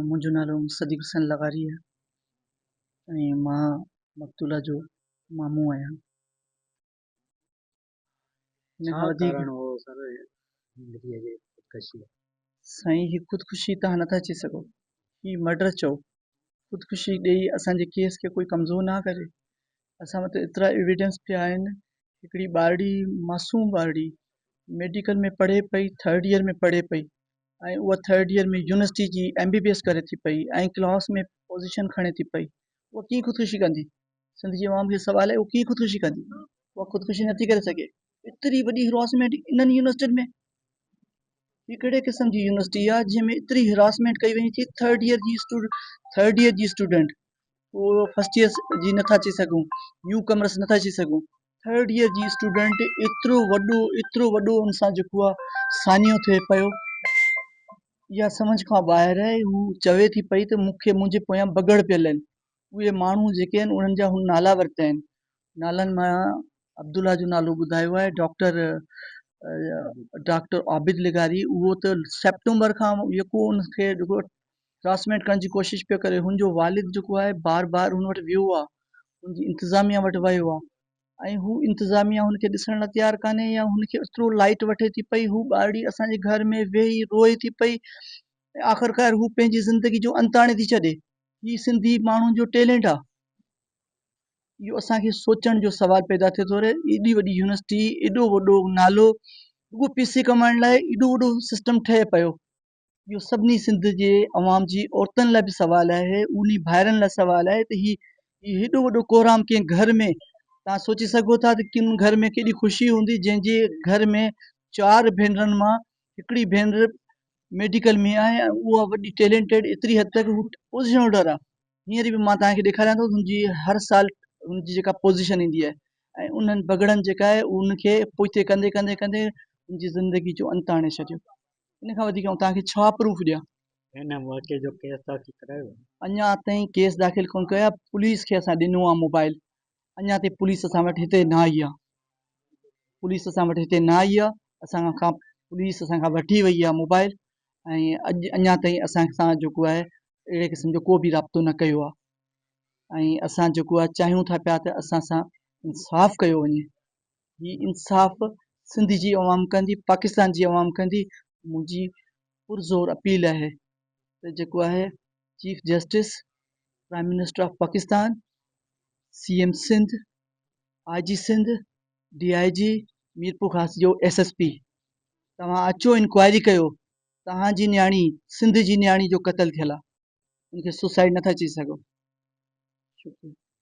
منهنجو نالو صديق حسين لغاري آهي ۽ مان مقتولا جو مامو آهيان. سائين هي خودڪشي توهان نٿا چئي سگهو هي مرڊر چئو خودڪشي ڏئي اسان جي ڪيس کي ڪوئي ڪمزور نه ڪري اسان وٽ ايترا ايويڊنس پيا آهن هڪڙي ٻارڙي معصوم ٻارڙي ميڊيڪل ۾ پڙهي پئي ٿرڊ يير ۾ پڙهي پئي ۽ اها ٿرڊ يير ۾ يونيورسٽي جي ايم بي بي ايس ڪري ٿي پئي ۽ ڪلاس ۾ پوزيشن کڻي ٿي پئي اها ڪيئن خودڪشي ڪندي سنڌ جي عوام کي سوال آهي اها ڪيئن خودڪشي ڪندي اها خودڪشي نٿي ڪري سگهي ايتري وڏي هراسمينٽ انهن يونيورسٽين ۾ هي ڪهڙي قسم جي يونيورسٽي آهي جنهن ۾ ايتري هراسمينٽ ڪئي وڃي ٿي ٿرڊ يير جي اسٽوڊنٽ ٿرڊ يير جي اسٽوڊنٽ پورو فرسٽ ايئر جي نٿا اچي سگهون نيو ڪمرس نٿا اچي سگهون ٿرڊ ايئر جي اسٽوڊنٽ ايترو وڏو ايترو وڏو ان سان جيڪو آ سانحو ٿئي پيو اها سمجھ کان ٻاهر آهي هو چوي ٿي پئي ته مون کي منهنجي پويان بگهڙ پيل آهن اهي ماڻهو جيڪي آهن انهن جا هن نالا ورتا آهن نالن مان عبدالله جو نالو ٻڌايو آهي ڊاڪٽر ڊاڪٽر عابد لغاري اهو ته سيپٽمبر کان يڪو ان کي راسمينٽ ڪرڻ جي ڪوشش پيو ڪري هن جو والد جيڪو آهي بار بار هن وٽ ويو آهي هن جي انتظاميه وٽ ويو آهي ۽ هو انتظاميه هن کي ڏسڻ لاء تيار ڪانهي يا هن کي ايترو لائٽ وٺي ٿي پئي هو ٻارڙي اسان جي گهر ۾ ويهي روئي ٿي پئي ۽ آخرڪار هو پنهنجي زندگي جو انت آڻي ٿي ڇڏي هي سنڌي ماڻهن جو ٽيلنٽ آهي اهو اسان کي سوچڻ جو سوال پيدا ٿئي ٿو ايڏي وڏي يونيورسٽي ايڏو وڏو نالو رڳو پيسي ڪمائڻ لاء ايڏو وڏو سسٽم ٺهي پيو اهو سڀني سنڌ جي عوام جي عورتن لاء به سوال آهي انهي ڀائرن لاء سوال آهي ته هي هيڏو وڏو ڪورام ڪنهن گهر ۾ تان سوچي سگهو ٿا ته ڪن گهر ۾ ڪيڏي خوشي هوندي جنهن جي گهر ۾ چار ڀينرن مان هڪڙي ڀينر ميڊيڪل ۾ آهي ۽ اها وڏي ٽيلنٽيڊ ايتري حد تڪ هو پوزيشن هولڊر آهي هينئر به مان توهان کي ڏيکاريان ٿو هن جي هر سال هن جي جيڪا پوزيشن ايندي آهي ۽ انهن بگڙن جيڪا آهي ان کي پوئتي ڪندي ڪندي ڪندي ان جي زندگي جو انت آڻي ڇڏيو ان کان وڌيڪ آئون توهان کي ڇا پروف ڏيان؟ هن واقعي جو ڪيس داخل ڪرايو آهي؟ اڃا تائين ڪيس داخل ڪونه ڪيو آهي، پوليس کي اسان ڏنو آهي موبائل، اڃا تائين پوليس اسان وٽ هتي نه آئي آهي، پوليس اسان وٽ هتي نه آئي آهي، اسان کان پوليس اسان کان وٺي وئي آهي موبائل ۽ اڄ اڃا تائين اسان سان جيڪو آهي اهڙي قسم جو ڪو به رابطو نه ڪيو آهي ۽ اسان جيڪو آهي چاهيون ٿا پيا ته اسان سان انصاف ڪيو وڃي. هي انصاف سنڌ جي عوام ڪندي پاڪستان جي عوام ڪندي منهنجي پرزور اپيل آهي ته جيڪو آهي chief justice prime minister of Pakistan C M Sindh I G Sindh D I G Mirpur Khas جو ايس ايس پي توهان اچو انڪوائري ڪيو توهان جي نياڻي سنڌ جي نياڻي جو قتل ٿيل آهي ان کي سوسائڊ نٿا چئي سگهو شڪريا